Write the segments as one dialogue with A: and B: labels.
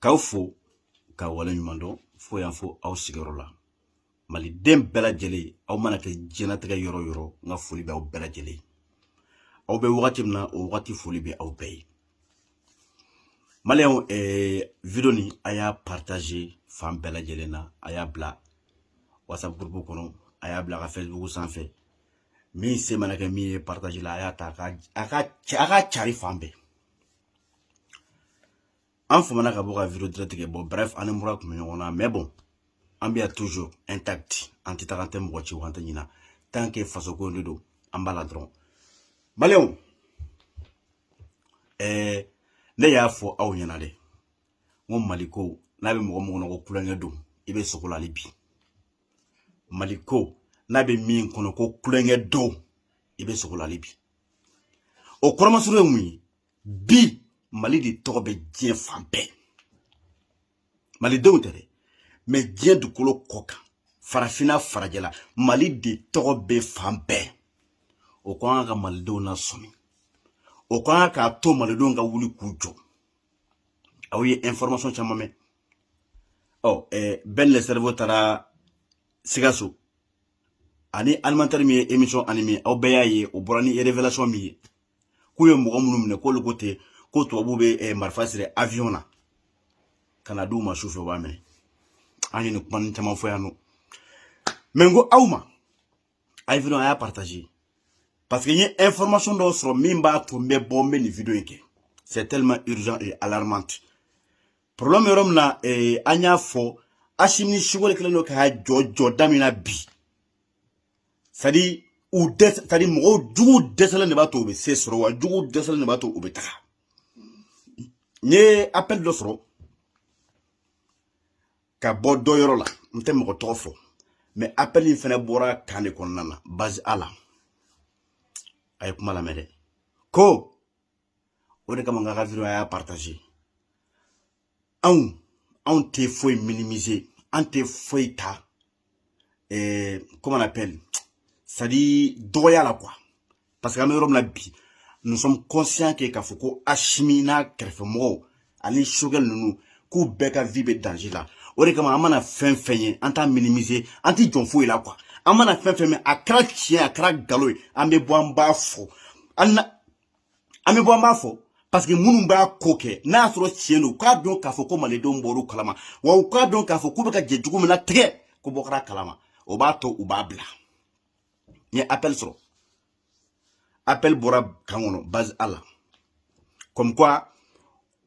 A: k'aw fo k'aw waleɲumandɔn fo yan fo aw sigiyɔrɔ la maliden bɛɛ lajɛlen aw mana kɛ diɲɛnatigɛ yɔrɔ yɔrɔ n ka foli bɛ aw bɛɛ lajɛlen aw bɛ wagati min na o wagati foli bɛ aw bɛɛ ye maliyɛnw eh, video nin a y'a partage fan bɛɛ lajɛlen na a y'a bila whatsapp groupe kɔnɔ a y'a bila a ka facebook sanfɛ min se mana kɛ min ye partage la a y'a to a ka cari fan bɛɛ an famana ka bɔ ka video direct kɛ bon bref an ni mura tun bɛ ɲɔgɔn na mais bon an bɛ yan toujours intact an tɛ taga an tɛ mɔgɔ ci wa an tɛ ɲina tant que faso ko de don an b'a la dɔrɔn maliyɛnw ɛɛ ne y'a fɔ aw ɲɛna dɛ n ko mali ko n'a bɛ mɔgɔ mɔgɔ kɔnɔ ko tulonkɛ don i bɛ sugo la hali bi mali ko n'a bɛ min kɔnɔ ko tulonkɛ don i bɛ sugo la hali bi o kɔrɔ masurun ye mun ye bi mali de tɔgɔ bɛ diɲɛ fan bɛɛ malidenw tɛ dɛ mais diɲɛ dugukolo kɔ kan farafinna farajɛla mali de tɔgɔ bɛ fan bɛɛ o kɔni ka kan ka malidenw nasɔmi o kɔni ka kan k'a to malidenw ka wuli k'u jɔ aw ye information caman mɛn ɔ ɛɛ Ben le Cerveau taara sikaso ani animateur min ye émission animer aw bɛɛ y'a ye o bɔra ni révélation min ye k'u ye mɔgɔ minnu minɛ k'olu ko ten ko tubabu bɛ eh, marifa siri avion na ka n'a di u ma su fɛ u b'a minɛ an ye nin kuma nin caman fɔ yan nɔ mais n ko aw ma a ye video a y'a partage parce que n ye information dɔw sɔrɔ min b'a to n bɛ bɔ n bɛ nin video in kɛ c'est tellement urgent et alarmante problème bɛ yɔrɔ min na ee, an y'a fɔ asimi ni sogɛl kɛlen don k'a jɔ jɔda min na bi c'est à dire u dɛsɛ c'est à dire mɔgɔw jugu dɛsɛlen de b'a to u bɛ se sɔrɔ wa jugu dɛsɛlen de b'a to u bɛ taga n ye appel dɔ sɔrɔ ka bɔ dɔ yɔrɔ la n tɛ mɔgɔ tɔgɔ fɔ mais appel in fana bɔra camp de kɔnɔna na base A la a ye kuma lamɛn dɛ ko o de kama n k'aw ka video y'a partage anw anw tɛ foyi minimiser an tɛ foyi ta eh, comment on appelle c'est à dire dɔgɔya la quoi parce que an bɛ yɔrɔ min na bi nous sommes conscients que k'a fɔ ko Asimi n'a kɛrɛfɛmɔgɔw ani sogɛl ninnu k'u bɛɛ ka vie bɛ danger la o de kama an mana fɛn fɛn ye an t'a minimiser an tɛ jɔn foyi la quoi an mana fɛn fɛn mɛn a kɛra tiɲɛ a kɛra nkalon ye an bɛ bɔ an b'a fɔ hali n'a an bɛ bɔ an b'a fɔ parce que minnu b'a ko kɛ n'a y'a sɔrɔ tiɲɛ don k'a dɔn k'a fɔ ko malidenw bɔr'u kalama wa u k'a dɔn k'a fɔ k'u bɛ ka jɛ jugu min natigɛ ko bɔ kɛr'a kalama o b'a to u b'a bila n ye appel sɔrɔ appel bɔra kan kɔnɔ base a la comme quoi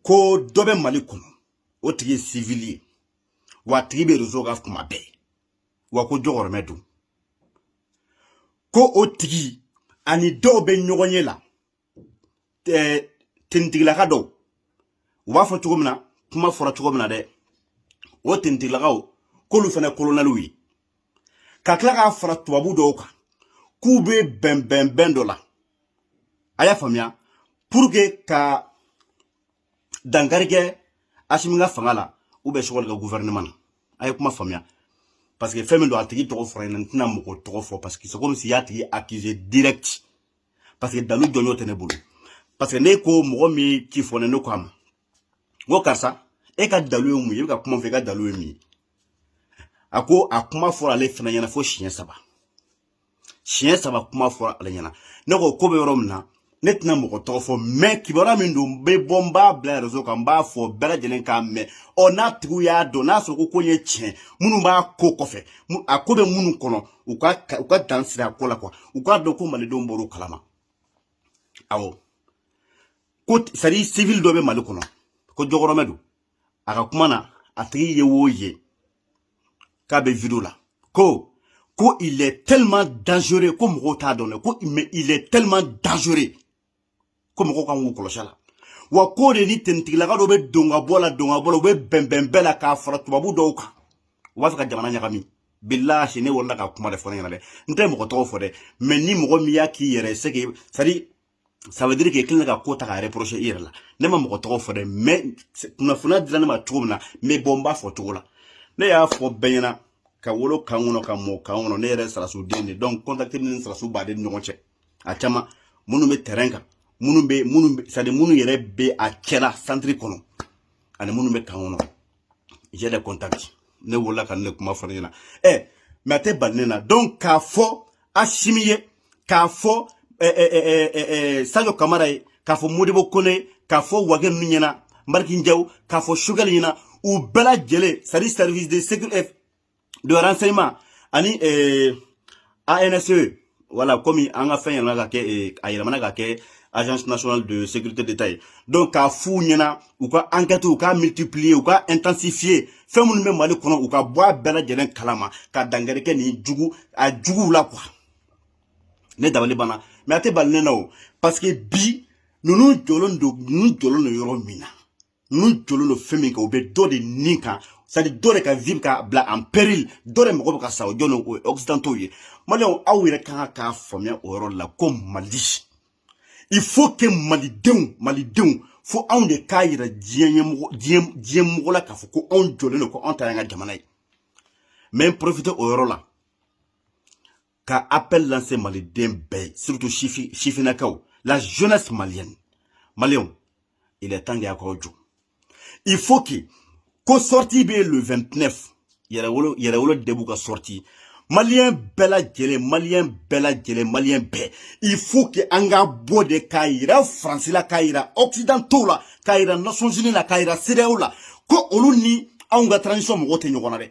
A: ko dɔ bɛ mali kɔnɔ o tigi ye civil ye wa a tigi bɛ réseau kan kuma bɛɛ wa ko jɔgɔrɔmɛ don ko o tigi ani dɔw bɛ ɲɔgɔn ye la tenitigilaka dɔw u b'a fɔ cogo min na kuma fɔra cogo min na dɛ o tenitigilakaw k'olu fana kolonɛliw ye ka tila k'a fara tubabu dɔw kan k'u bɛ bɛnbɛnbɛn dɔ la a y'a faamuya pour ka dankari kɛ asimi ka fanga la u bɛ sugɛli ka guvɛrɛnɛma na a ye kuma faamuya parce que fɛn min don a tigi tɔgɔ fɔra ɲɛna n tɛna mɔgɔ tɔgɔ fɔ parce que c'est comme si y'a tigi accusé direct parce que dalu jɔnjɔn tɛ ne bolo parce que ne ko mɔgɔ min ci fɔ ne ne ko a ma n ko karisa e ka dalu ye mun ye i bɛ ka kuma fɔ i ka dalu ye mun ye a ko a kuma fɔra ale fana ɲɛna fo siɲɛ saba siɲɛ saba kuma fɔra ale ɲɛna ne ko ko bɛ yɔrɔ min na ne tɛna mɔgɔ tɔgɔ fɔ mais kibaruya min don n bɛ bɔ n b'a bila rezo kan n b'a fɔ bɛɛ lajɛlen k'a mɛn ɔ n'a tigiw y'a dɔn n'a sɔrɔ ko ko ye tiɲɛ minnu b'a ko kɔfɛ a ko bɛ minnu kɔnɔ u ka u ka dan sigi a ko la ko wa u k'a dɔn ko malidenw bɔr'o kalama awɔ ko c'est à dire sivili dɔ bɛ mali kɔnɔ ko jɔkɔrɔmɛ don a ka kuma na a tigi ye wo ye k'a bɛ video la ko ko il est tellement dangereux ko mɔgɔw t'a dɔn dɛ ko mais il est tellement dangereux ko mɔgɔw kan k'u kɔlɔsi a la wa k'o de ni tenitigilaka dɔw bɛ don ka bɔ la don ka bɔ la u bɛ bɛnbɛn bɛɛ la k'a fara tubabu dɔw kan u b'a fɛ ka jamana ɲagami bilahi ne welela ka kuma de fɔ ne ɲɛna dɛ n tɛ mɔgɔ tɔgɔ fɔ dɛ mais ni mɔgɔ min y'a k'i yɛrɛ ye c'est que i c'est à dire ça veut dire que kelen ka ko ta ka reprocher i yɛrɛ la ne ma mɔgɔ tɔgɔ fɔ dɛ mais kunnafoniya dira ne ma cogo min na n bɛ bɔ n b'a fɔ o cogo la ne y'a fɔ bɛɛ ɲɛna ka wolo kan kɔnɔ ka mɔ kan kɔnɔ ne yɛrɛ sɔrɔdasi den de don contact ni sɔrɔdasi b'a de ni ɲɔgɔn cɛ a caman minnu bɛ terrain kan minnu bɛ minnu c'est à dire minnu yɛrɛ bɛ a cɛla centre kɔnɔ ani minnu bɛ kan kɔnɔ j'ai des contacts ne welela ka nin kuma fɔ ne ɲɛna ɛ mais a tɛ ban ne na donc k'a fɔ asimi ye k'a fɔ sajo kamara ye k'a fɔ modibo kone k'a fɔ wage ninnu ɲɛna maliki jaw k'a fɔ sugɛli ɲɛna u bɛɛ lajɛlen c'est à dire service de sécurité de renseignement ani eh, ANSE wala komi an ka fɛn yɛlɛmana ka kɛ eh, a yɛlɛmana ka kɛ agence nationale de sécurité d'état ye donc k'a f'u ɲɛna u ka enquête u ka multiplier u ka intensifier fɛn minnu bɛ mali kɔnɔ u ka bɔ a bɛɛ lajɛlen kalama ka dankari kɛ nin jugu a juguw la quoi ne dabali banna mais a tɛ bala ne na o parce que bi ninnu jɔlen don ninnu jɔlen don yɔrɔ min na n'u jɔlen don fɛn min kan u bɛ dɔ de ni kan c'est-à-dire dɔ de ka vie bɛ ka bila en péril dɔ de mɔgɔ bɛ ka sa o jɔn o ye occidentaux ye maliyɛnw aw yɛrɛ ka kan k'a faamuya o yɔrɔ la ko mali il faut que malidenw malidenw fo anw de k'a yira diɲɛ ɲɛmɔgɔ diɲɛ diɲɛ mɔgɔ la k'a fɔ ko anw jɔlen don ko anw ta y'an ka jamana ye n bɛ n profiter o yɔrɔ la ka appel lancer maliden bɛɛ surtout sifinnakaw la jeunesse malienne maliyɛnw il est temps dɛ y'aw jɔ il faut que ko sortie bɛ le 29 yɛrɛwolo yɛrɛwolo debout ka sortie maliyɛn bɛɛ lajɛlen maliyɛn bɛɛ lajɛlen maliyɛn bɛɛ il faut que an ka bɔ de k'a yira faransi la k'a yira occidentaux la k'a yira nations unies la k'a yira cedeao la ko olu ni anw ka transition mɔgɔw tɛ ɲɔgɔn na dɛ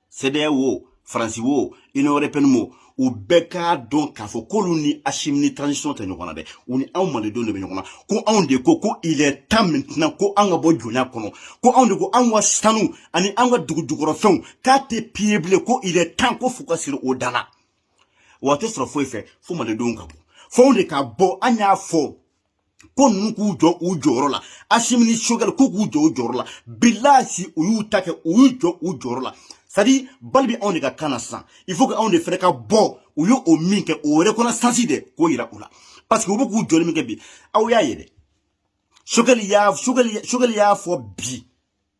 A: cedeao wo faransi wo union européenne wo u bɛɛ k'a dɔn k'a fɔ k'olu ni asimi ni transition tɛ ɲɔgɔn na dɛ u ni anw malidenw de bɛ ɲɔgɔn na ko anw de ko ko il est temps maintenant ko anw ka bɔ jɔnya kɔnɔ ko anw de ko anw ka sanu ani anw ka dugujukɔrɔfɛnw k'a tɛ piller bilen ko il est temps ko f'u ka siri o dan na wa a tɛ sɔrɔ foyi fɛ fo malidenw ka bɔ fo anw de ka bɔ an y'a fɔ ko ninnu k'u jɔ u jɔyɔrɔ la asimi ni sogɛli k'u k'u jɔ u jɔyɔrɔ la bilasi u y'u ta kɛ u y'u jɔ u jɔyɔrɔ la c'est-à-dire balle bɛ anw de ka camp na sisan il faut que anw de fɛnɛ ka bɔ u ye o min kɛ o reconnaissance de k'o yira u la parce que u bɛ k'u jɔli min kɛ bi aw y'a ye dɛ sogɛli y'a sogɛli sogɛli y'a fɔ bi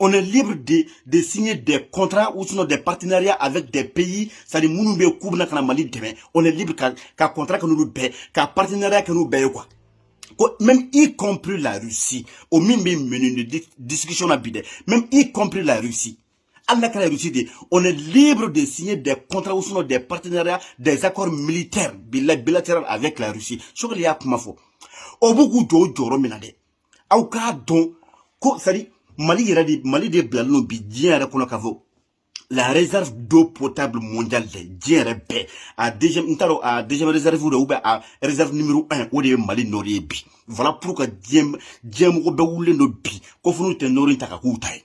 A: on est libre de, de signer des contrats ou sinon des partenariats avec des pays, c'est-à-dire minnu bɛ k'u bɛna ka na Mali dɛmɛ, on est libre ka, ka contrat kɛ n'olu bɛɛ, ka partenariat kɛ n'u bɛɛ ye quoi. Ko, même y compris la Russie, o min bɛ menu de discussion na bi dɛ, même y compris la Russie. Hali n'a kɛra Russie de ye, on est libre de signer des contrats ou sinon des partenariats, des accords militaires bilatéraux avec la Russie. Sogɛli y'a kuma fɔ. O bɛ k'u jɔ o jɔyɔrɔ min na dɛ. aw k'a dɔn ko c'est-à-dire mali yɛrɛ de mali de bilalen don bi diɲɛ yɛrɛ kɔnɔ k'a fɔ la réserve d'eau potable mondiale dɛ diɲɛ yɛrɛ bɛɛ a deuxième n t'a dɔn a deuxième réserve de ou bien a réserve numéro un o de ye mali nord de ye bi voilà pourquoi diɲɛ diɲɛ mɔgɔ bɛɛ wulilen don bi ko fo n'u tɛ nord ta k'a k'u ta ye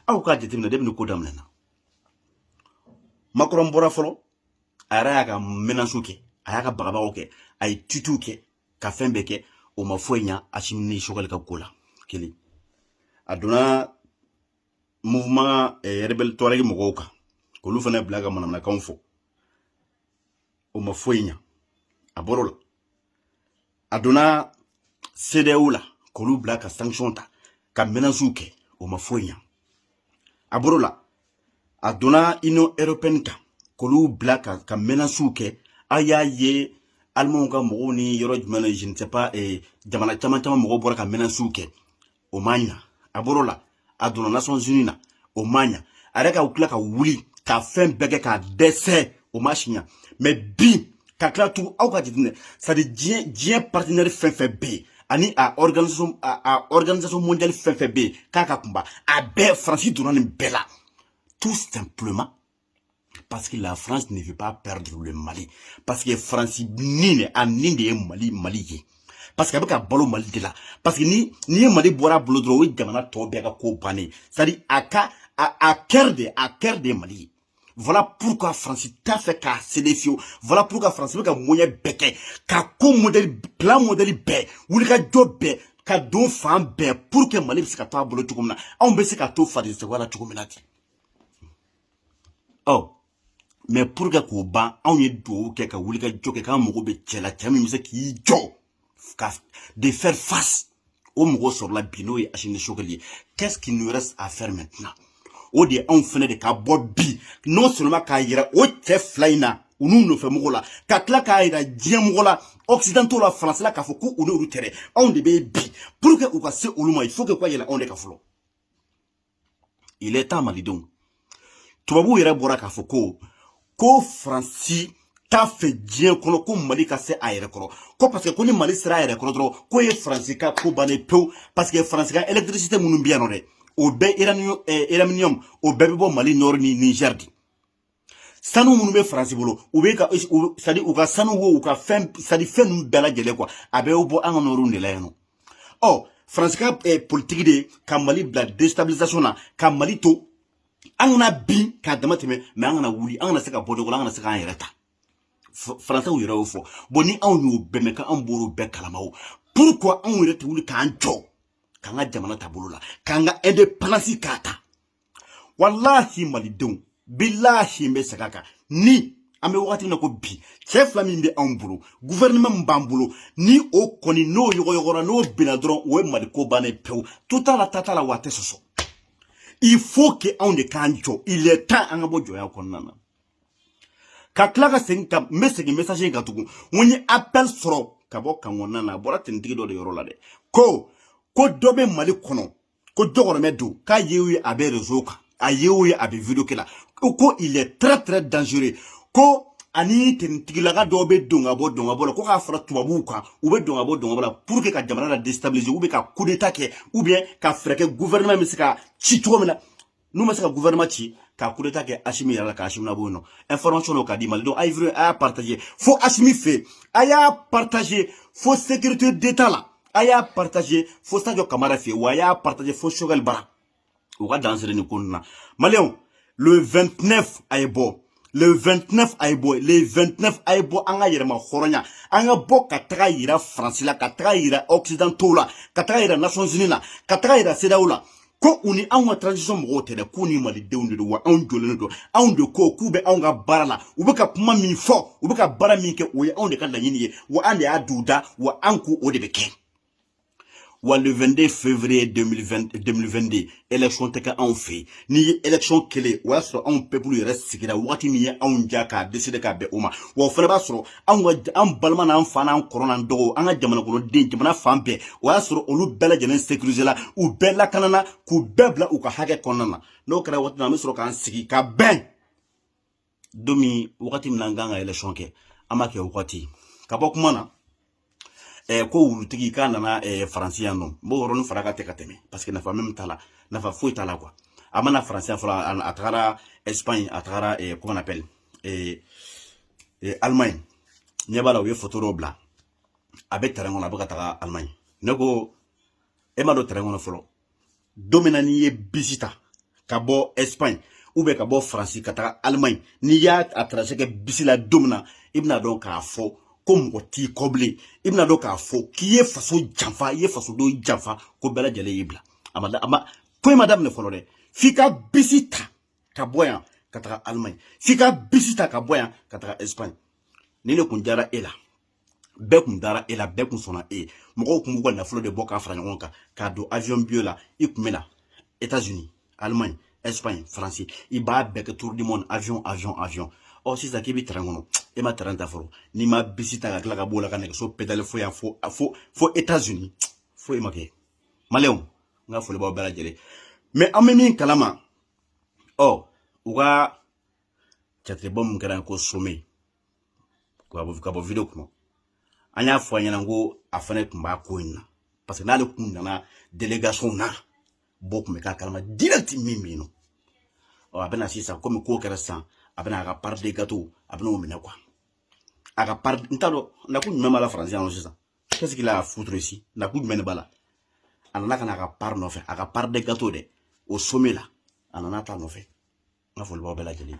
A: aw k'a jateminɛ dɛ bini a ko daminɛna makɔrɔn bɔra fɔlɔ a yɛrɛ y'a ka menace kɛ a y'a ka bagabagaw kɛ a ye tweetw kɛ ka fɛn bɛɛ kɛ o ma foyi ɲa asimi ni sogɛli ka ko la kelen a donna mouvement eh, rebelle touareg mɔgɔw kan k'olu fana bila ka manamanakanw fɔ o ma foyi ɲa a bɔr'o la a donna CEDEAO la k'olu bila ka sanction ta ka menaces kɛ o ma foyi ɲa a bɔr'o la a donna Union européenne kan k'olu bila ka ka mɛnasiw kɛ aw y'a ye alimanw ka mɔgɔw ni yɔrɔ jumɛn na je ne sais pas eh, jamana caman caman mɔgɔw bɔra ka mɛnasiw kɛ o ma ɲa a bɔr'o la a donna nations unies na o ma ɲa a yɛrɛ ka tila ka wuli ka fɛn bɛɛ kɛ ka dɛsɛ o ma se ɲa mais bi ka tila tugu aw ka jateminɛ c'est à dire diɲɛ diɲɛ partenaire fɛn fɛn bɛ yen ani a organisation a, a organisation mondiale fɛn fɛn bɛ yen k'a ka kunba a bɛɛ faransi donna nin bɛɛ la tout simplement parce que la France ne veut pas perdre le Mali parce que France ni de a ni de ye Mali Mali ye parce que a bɛ ka balo Mali de la parce que ni n'i ye Mali bɔra a bolo dɔrɔn o ye jamana tɔ bɛɛ ka ko bannen c'est à dire a ka a a cœur de a cœur de ye Mali ye. Voilà pourquoi France t'a fɛ ka céder fiyewu voilà pourquoi France bɛ ka moyen bɛɛ kɛ ka ko mɔdɛli plan mɔdɛli bɛɛ wulikajɔ bɛɛ ka don fan bɛɛ pour que mali bɛ se ka to a bolo cogo min na anw bɛ se ka to franc CFA la cogo min na ten ɔ mais pour que k'o ban anw ye dugawu kɛ ka wulikajɔ kɛ k'an mago bɛ cɛ la cɛ min bɛ se k'i jɔ ka de faire face o mɔgɔ sɔrɔla bi n'o ye asimi ni sogɛli ye qu'est-ce qui nous reste à faire maintenant o de ye anw fɛnɛ de ka bɔ bi non seulement k'a yira o cɛ fila in na u n'u nɔfɛ mɔgɔ la ka tila k'a yira diɲɛ mɔgɔ la occidentaux la faransi la k'a fɔ ko u n'olu tɛ dɛ anw de bɛ bi pour que u ka se olu ma il faut que u ka yɛlɛn anw de kan fɔlɔ il est temps malidenw tubabuw yɛrɛ bɔra k'a fɔ ko ko faransi t'a fɛ diɲɛ kɔnɔ ko mali ka se a yɛrɛ kɔrɔ ko parce que ko ni mali sera a yɛrɛ kɔrɔ dɔrɔn k'o ye faransi ka ko bannen pewu parce que faransi ka électricité minnu bɛ yan nɔ dɛ o bɛɛ uranium eh, o bɛɛ bɛ bɔ mali nord ni niger de sanu minnu bɛ faransi bolo u bɛ ka c'est à dire u ka sanu wo u ka fɛn c'est à dire fɛn ninnu bɛɛ lajɛlen quoi a bɛ bɔ an ka nord de la yan nɔ ɔ faransi ka politiki de ka mali bila déstabilisation na ka mali to an kana bin k'a dama tɛmɛ mais an kana wuli an kana se ka bɔ nɔgɔ la an kana se k'an yɛrɛ ta faransiw yɛrɛ y'o fɔ bon ni anw y'o bɛɛ mɛn k'an b'olu bɛɛ kalama o pourquoi anw yɛrɛ tɛ wuli k'an jɔ k'an ka jamana ta a bolo la k'an ka indépendance k'a ta walahi malidenw bilahi n bɛ segin a kan ni an bɛ wagati min na ko bi cɛ fila min bɛ anw bolo gouvernement min b'an bolo ni o kɔni n'o yɔgɔyɔgɔra n'o binna dɔrɔn o ye mali ko bannen pewu to t'a la ta t'a la wa a tɛ sɔsɔ il faut que anw de k'an jɔ il est temps an ka bɔ jɔnya kɔnɔna na ka tila ka segin ka n bɛ segin message in kan tugun n ko n ye appel sɔrɔ ka bɔ camp kɔnɔna na a bɔra tenitigi dɔ de yɔrɔ la dɛ ko ko dɔ bɛ mali kɔnɔ ko jɔgɔramɛ don k'a ye o ye a bɛ rezo kan a ye o ye a bɛ video kɛ la ko il est très très dangereux ko ani tenitigilaka dɔw bɛ don ka bɔ don ka bɔ la ko ka fara tubabuw kan u bɛ don ka bɔ don ka bɔ la pour que ka jamana la destabiliser u bɛ ka coup d'état kɛ ou bien ka fɛɛrɛ kɛ gouvernement bɛ se ka ci cogo min na n'u ma se ka gouvernement ci ka coup d'état kɛ Asimi yɛrɛ la ka Asimi labɔ yen nɔ information dɔ ka di Mali donc a ye vidéo a y'a partager fo Asimi fɛ a y'a partager fo sécurité d'état la a y'a partager fo Sadio Kamara fɛ wa a y'a partager fo Choguel bara u ka dansere nin ko ninnu na maliyɛnw le 29 a ye bɔ le 29 a ye bɔ le 29 a ye bɔ an ka yɛrɛmahɔrɔnya an ka bɔ ka taga yira faransi la ka taga yira occidentaux la ka taga yira nations unies la ka taga yira cedeao la ko u ni anw ka transition mɔgɔw tɛ dɛ k'u ni malidenw de don wa anw jɔlen don anw de ko k'u bɛ anw ka baara la u bɛ ka kuma min fɔ u bɛ ka baara min kɛ o ye anw de ka laɲini ye wa an de y'a duw da wa an ko o de bɛ kɛ wa le 22 février 2020, 2022 élection tɛ kɛ anw fɛ yen n'i ye élection kɛlen o y'a sɔrɔ anw peuple yɛrɛ sigira waati min ye anw jɛ k'a décider ka bɛn o ma wa o fana b'a sɔrɔ anw ka an balima n'an fa n'an kɔrɔ n'an dɔgɔw an ka jamanakɔnɔden jamana fan bɛɛ o y'a sɔrɔ olu bɛɛ lajɛlen sécuriser la u bɛɛ lakanana k'u bɛɛ bila u ka hakɛ kɔnɔna na n'o kɛra waati min na an bɛ sɔrɔ k'an sigi ka bɛn don min wagati min na an kan ka election kɛ an b'a kɛ o wagati ka bɔ kuma na eh, ko wulutigi k'a nana eh, faransi yan nɔ n b'o yɔrɔnin fara ka tɛ ka tɛmɛ parce que nafa min t'a la nafa foyi t'a la quoi a ma na faransi yan fɔlɔ a tagara espagne a tagara eh, comment on appelle eh, eh, allemagne n ɲɛ b'a la u ye foto dɔw bila a bɛ train kɔnɔ a bɛ ka taga allemagne ne ko e ma don train kɔnɔ fɔlɔ don min na n'i ye bisi ta ka bɔ espagne ou bien ka bɔ faransi ka taga allemagne n'i y'a trajet kɛ bisi la don min na i bɛna dɔn k'a fɔ ko mɔgɔ t'i kɔ bilen i bɛna dɔn k'a fɔ k'i ye faso janfa i ye fasodenw janfa ko bɛɛ lajɛlen y'i bila a ma a ma ko in ma daminɛ fɔlɔ dɛ f'i ka bisi ta ka bɔ yan ka taga allemagne f'i ka bisi ta ka bɔ yan ka taga espagne ni ne kun diyara e la bɛɛ kun dara e la bɛɛ kun sɔnna e ye mɔgɔw kun b'u ka nafolo de bɔ k'a fara ɲɔgɔn kan k'a don avion billet la i kun bɛ na états unis allemagne espagne france i b'a bɛɛ kɛ tour du monde avion avion avion ɔ sisan k'i bɛ train kɔnɔ e ma train ta fɔlɔ n'i ma bisi ta ka tila ka b'o la ka nɛgɛso pedale fo yan fo fo fo états unis foyi ma kɛ maliyɛnw n ka foli b'aw bɛɛ lajɛlen ye an bɛ min kalama ɔ u ka jatigɛbɔ min kɛra ko sommet ka bɔ video kɔnɔ an y'a fɔ a ɲɛna ko a fana tun bɛ ko in na parce que n'ale kun nana delegation na bɔ tun bɛ k'a kalama direct min bɛ yen nɔ ɔ a bɛna sisan komi ko kɛra sisan a bɛna a ka part de gâteau a bɛna o minɛ quoi a ka part n t'a dɔn nakun jumɛn b'a la faransi yan nɔ sisan qu'est-ce qu'il a foutre ici nakun jumɛn de b'a la a nana ka na a ka part nɔfɛ a ka part de gâteau dɛ o sommet la a nana ta nɔfɛ n ka foli b'aw bɛɛ lajɛlen